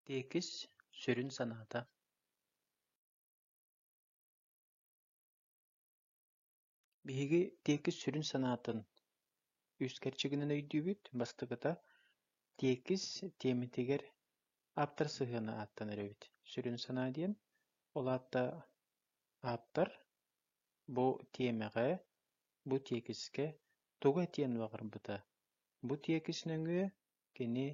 Тиэкис сүрүн санаата Биһиги тиэкис сүрүн санаатын үс кэрчигинэн өйдүүбүт. Бастакыта, тиэкис тиэмэтигэр ааптар сыһыана ааттанар эбит. Сүрүн санаа диэн, ол аатта ааптар бу тиэмэҕэ, бу тиэкискэ тугу этиэн баҕарбыта, Бу тиэкис нөҥүө кини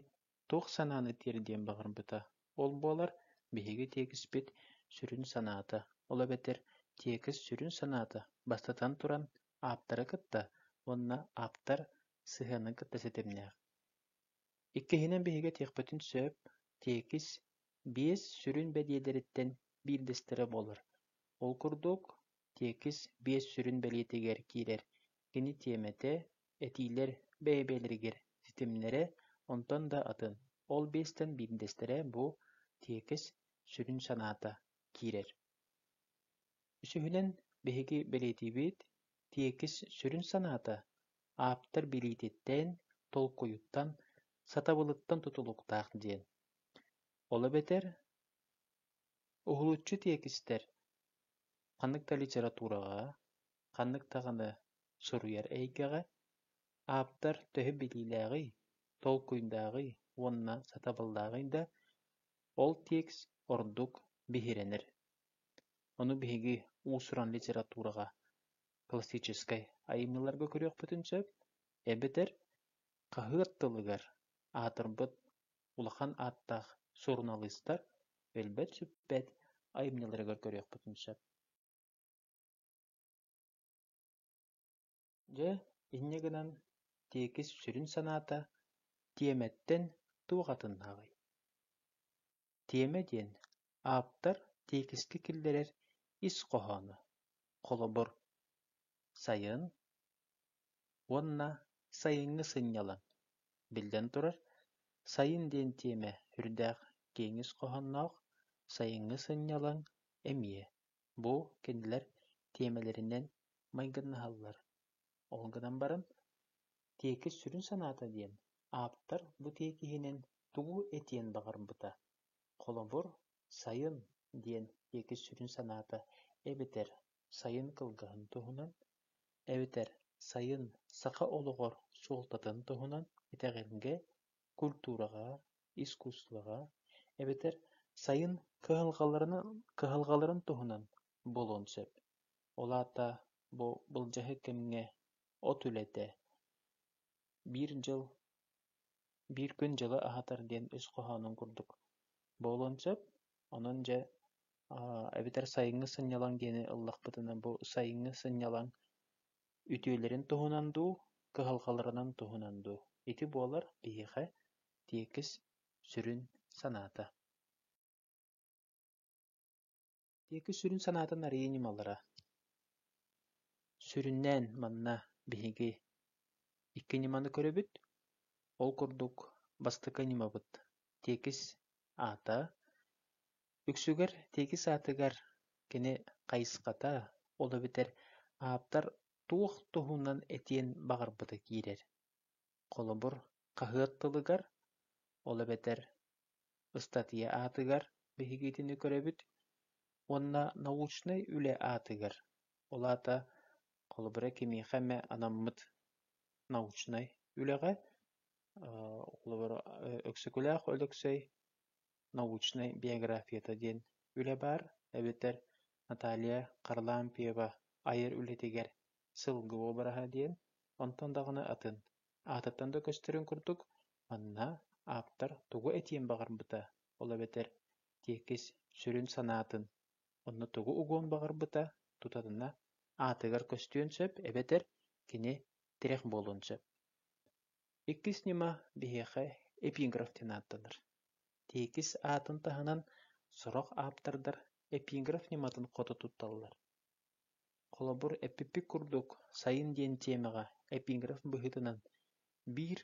туох санааны тиэрдиэн баҕарбыта, ол буолар биһиги тиэкиспит сүрүн санаата, ол эбэтэр тиэкис сүрүн санаата, бастатан туран, ааптары кытта уонна ааптар сыһыанын кытта ситимнээх. Иккиһинэн, биһиги этиэхпитин сөп, тиэкис биэс сүрүн бэдиэлэриттэн биирдэстэрэ буолар. Ол курдук, Тиэкис биэс сүрүн бэлиэтигэр киирэр, кини тиэмэтэ, этиилэр бэйэ-бэйэлэригэр ситимнэрэ, онтон да атын. Ол биэстэн биирдэстэрэ бу тиэкис сүрүн санаата киирэр. Үсүһүнэн, биһиги бэлиэтиибит тиэкис сүрүн санаата ааптар билиититтэн, толкуйуттан, сатабылыттан тутулуктаах диэн. Ол эбэтэр Уһулуччу тиэкистэр ханнык да литератураҕа, ханнык даҕаны суруйар эйгэҕэ ааптар төһө билиилээҕий, толкуйдааҕый уонна сатабыллааҕый да, ол текст ордук биһирэнэр. Ону биһиги уус-уран литератураҕа, классическай айымньыларга көрүөхпүтүн сөп, эбэтэр хаһыат тылыгар аатырбыт улахан ааттаах суруналыыстар өлбөт-сүппэт айымньыларыгар көрүөхпүтүн сөп Дьэ, инньэ гынан тиэкис сүрүн санаата тиэмэттэн туох атыннааҕый? Тиэмэ диэн ааптар тиэкискэ киллэрэр ис хоһооно. Холобур, сайын уонна сайыҥҥы сынньалаҥ, биллэн турар, сайын диэн тиэмэ үрдээх киэҥис хоһоонноох сайыҥҥы сынньалаҥ эмиэ бу кинилэр тиэмэлэринэн майгыннаһаллар. Ол гынан баран, тиэкис сүрүн санаата диэн ааптар бу тиэкиһинэн тугу этиэн баҕарбыта, холобур, сайын диэн тиэкис сүрүн санаата эбэтэр сайын кылгаһын туһунан, эбэтэр сайын саха олоҕор суолтатын туһунан итэҕэлгэ, культураҕа, искусствоҕа, эбэтэр сайын кыһалҕаларын кыһалҕаларын туһунан буолуон сөп. Ол аата бу былдьаһы кэмҥэ от үлэтэ, биир дьыл Биир күн дьылы аһатар диэн ис хоһоонун курдук буолуон сөп, онон дьэ эбэтэр сайыҥҥы сынньалаҥ диэни ыллахпытына бу сайыҥҥы сынньалаҥ үтүөлэрин туһунан дуу, кыһалҕаларынан туһунан дуу? Ити буолар биһиэхэ тиэкис сүрүн санаата диэки сүрүн санаатын арыйа ньымалара Сүрүннээн манна биһиги икки ньыманы көрөбүт, ол курдук бастакы ньымабыт тиэкис аата, үксүгэр тиэкис аатыгар кини хайысхата, ол эбэтэр ааптар туох туһунан этиэн баҕарбыта киирэр. Холобур, хаһыат тылыгар, ол эбэтэр Ыстатыйа аатыгар биһигитини көрөбүт уонна научнай үлэ аатыгар, ол аата холобура кимиэхэ эмэ анаммыт научнай үлэҕэ, холобура Өксөкүлээх Өлөксөй научнай биографията диэн үлэ баар, эбэтэр Наталья Харлампьева айар үлэтигэр сылгы обраһа диэн, онтон даҕаны атын. аатыттан да көстөрүн курдук, манна ааптар тугу этиэн баҕарбыта, ол эбэтэр тиэкис сүрүн санаатын, онно тугу угуон баҕарбыта тутатына аатыгар көстүөн сөп эбэтэр кини тирэх буолуон сөп. Иккис ньыма биһиэхэ эпиграф диэн ааттанар. Тиэкис аатын таһынан сорох ааптардар эпиграф ньыматын хото тутталлар. Холобур, эппиппит курдук, сайын диэн тиэмэҕэ эпиграф быһыытынан «биир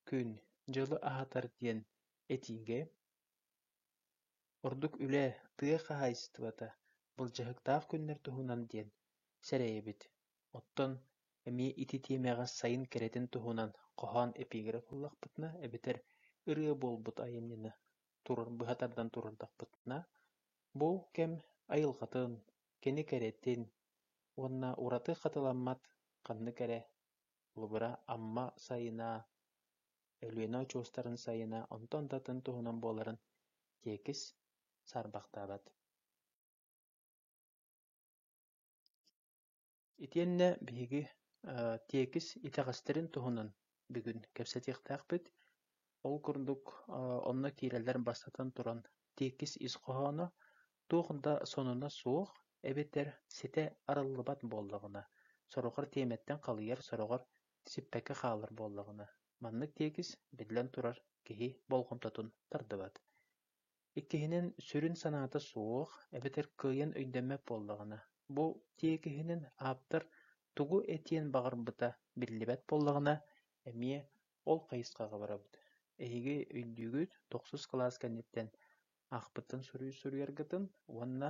күн дьылы аһатар» диэн этиигэ ордук үлэ, тыа хаһаайыстыбата, былдьаһыктаах күннэр туһунан диэн сэрэйэбит. Оттон эмиэ ити тиэмэҕэ сайын кэрэтин туһунан хоһоон эпиграф ыллахпытына эбэтэр ырыа буолбут айымньыны турар быһа тардан турардахпытына, бу кэм айылҕатын, кини кэрэтин уонна ураты хатыламмат ханнык эрэ лубура Амма сайына, Өлүөнэ очуостарын сайына онтон да атын туһунан буоларын тиэкис саарбахтаабат Итиэннэ биһиги тиэкис итэҕэстэрин туһунан бүгүн кэпсэтиэхтээхпит. Ол курдук онно киирэллэр бастатан туран тиэкис ис хоһооно туох да сонуна суох эбэтэр ситэ арыллыбат буоллаҕына, сороҕор тиэмэттэн халыйар, сороҕор сиппэккэ хаалар буоллаҕына, маннык тиэкис, биллэн турар, киһи болҕомтотун тардыбат. Иккиһинэн, сүрүн санаата суох, эбэтэр кыайан өйдөммөт буоллаҕына, бу тиэкиһинэн ааптар тугу этиэн баҕарбыта биллибэт буоллаҕына, эмиэ ол хайысхаҕа барабыт. Эһиги өйдүүгүт, тохсус кылаас кэнниттэн аахпыттан суруй суруйаргытын уонна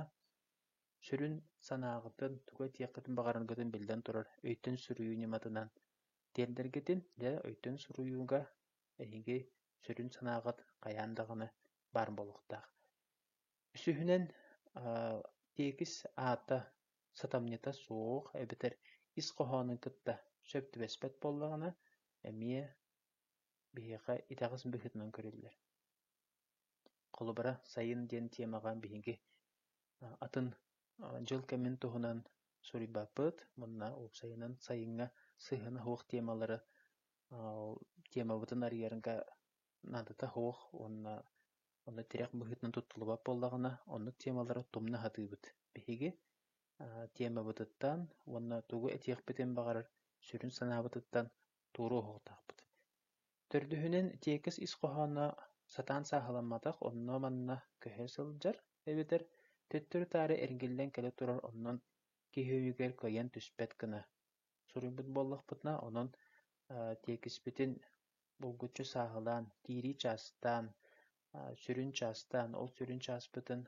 сүрүн санааҕытын, тугу этиэххитин баҕараргытын биллэн турар өйтөн суруйуу ньыматынан тиэрдэргитин, дьэ, өйтөн суруйууга эһиги сүрүн санааҕыт хайаан даҕаны баар буолуохтаах. Үсүһүнэн, тиэкис аата, сатамньыта суох эбэтэр ис хоһоонун кытта сөп түбэспэт буоллаҕына, эмиэ биһиэхэ итэҕэс быһыытынан көрүллэр. Холобура, сайын диэн тиэмэҕэ биһиги атын дьыл кэмин туһунан суруйбаппыт, мунна уопсайынан сайыҥҥа сыһыана суох тиэмэлэри Темабытын арыйарга наадата суох уонна онно тирэх быһыытынан туттуллубат буоллаҕына, оннук темалары тумна сатыыбыт. Биһиги темабытыттан уонна тугу этиэхпитин баҕарар сүрүн санаабытыттан туоруу оһуохтаахпыт. Төрдүһүнэн, тиэкис ис хоһооно сатаан сааһыламматах, онно-манна көһө сылдьар эбэтэр төттөрү-таары эргиллэн кэлэ турар, онон киһи өйүгэр кыайан түспэт гына. суруйбут буоллахпытына, онон тиэкиспитин булгуччу сааһылаан, киирии чаастаан, сүрүн чаастаан, ол сүрүн чааспытын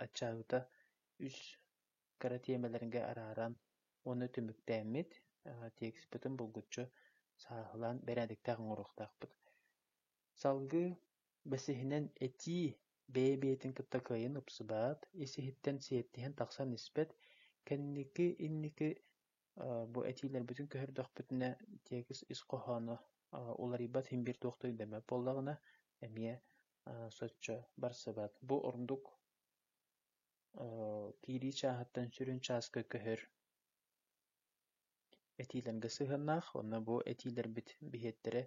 аччаабыта үс кыра тиэмэлэргэ арааран уонна түмүктээммит, тиэкиспитин булгуччу сааһылаан бэрээдэктээх оҥоруохтаахпыт. Салгыы бэсиһинэн этии бэйэ-бэйэтин кытта кыайан упсубат, ис-иһиттэн сиэттиһэн тахсан испэт, кэнники инники Бу этиилэрбитин көһөрдөхпүтүнэ тиэкис ис хоһооно уларыйбат син-биир туох да өйдөммөт буоллаҕына эмиэ соччо барсыбат. Бу ордук киирии чааһыттан сүрүн чааска көһөр этиилэргэ сыһыаннаах. Уонна бу этиилэрбит биһиэттэрэ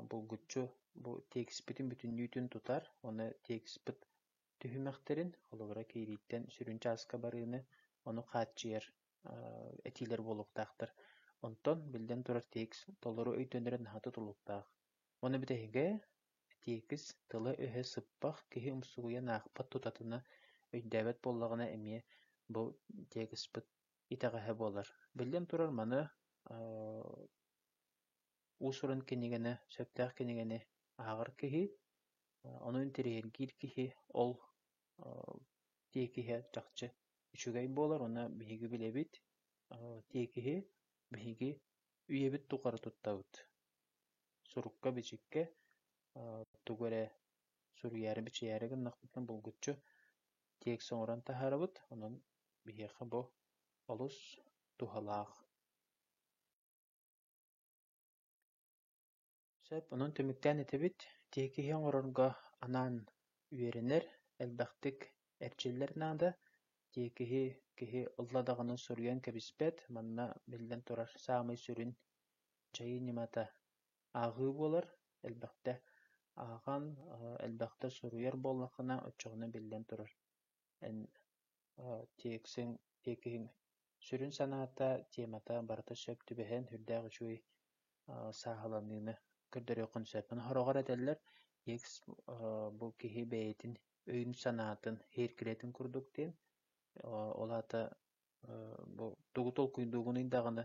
булгуччу бу тиэкиспитин бүтүннүүтүн тутар уонна тиэкиспит түһүмэхтэрин, холобура киирииттэн сүрүн чааска барыыны, ону хааччыйар этиилэр буолуохтаахтар. Онтон, биллэн турар, текст толору өйдөнөрө наһаа тутулуктаах. Ону бүтэһигэ текст тыла-өһө сыппах, киһи умсугуйан аахпат тутатына өйдөөбөт буоллаҕына эмиэ бу текстпыт итэҕэһэ буолар. Биллэн турар, маны уус-уран кинигэни, сөптөөх кинигэни ааҕар киһи, ону интэриэһиргиир киһи ол тиэкиһэ чахчы үчүгэй буолар уонна биһиги билэбит тиэкиһи биһиги үйэбит тухары туттабыт сурукка-бичиккэ тугу эрэ суруйаары бичийээри гыннахпытына булгуччу тиэкс оҥорон таһаарабыт онон биһиэхэ бу олус туһалаах Сөп, онон түмүктээн этэбит, тиэкиһи оҥорорго анаан үөрэнэр, элбэхтик эрчиллэр наада. Тиэкиһи киһи ылла даҕаны суруйан кэбиспэт, манна, биллэн турар, саамай сүрүн дьайыы ньымата ааҕыы буолар. Элбэхтэ ааҕан, элбэхтэ суруйар буоллаххына, оччоҕуна биллэн турар Эн тиэксиҥ, тиэкиһиҥ сүрүн санаата, тиэмэтэ барыта сөп түбэһэн сүрдээх үчүгэй сааһыланыыны көрдөрүөххүн сөп. Аны сороҕор этэллэр тиэкс бу киһи бэйэтин өйүн-санаатын, иһиркилэтин курдук диэн. Ол аата бу тугу толкуйдуугунуй даҕаны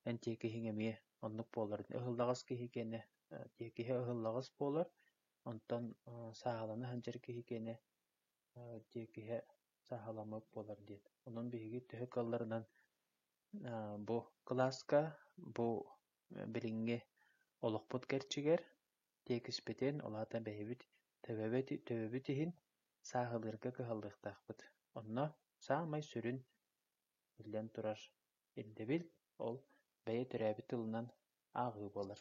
эн тиэкиһиҥ эмиэ оннук буолар. Ыһыллаҕас киһи киэнэ тиэкиһэ ыһыллаҕас буолар, онтон сааһылана сылдьар киһи киэнэ диир киһи саһаламмыт буолар диэн. Онон биһиги төһө кыалларынан бу кылааска, бу билиҥҥи олохпут кэрчигэр тиэкиспитин, ол аата бэйэбит төбөбүт төбөбүт иһин сааһылыырга кыһаллыахтаахпыт. Онно саамай сүрүн, биллэн турар, ирдэбил ол бэйэ төрөөбүт тылынан ааҕыы буолар.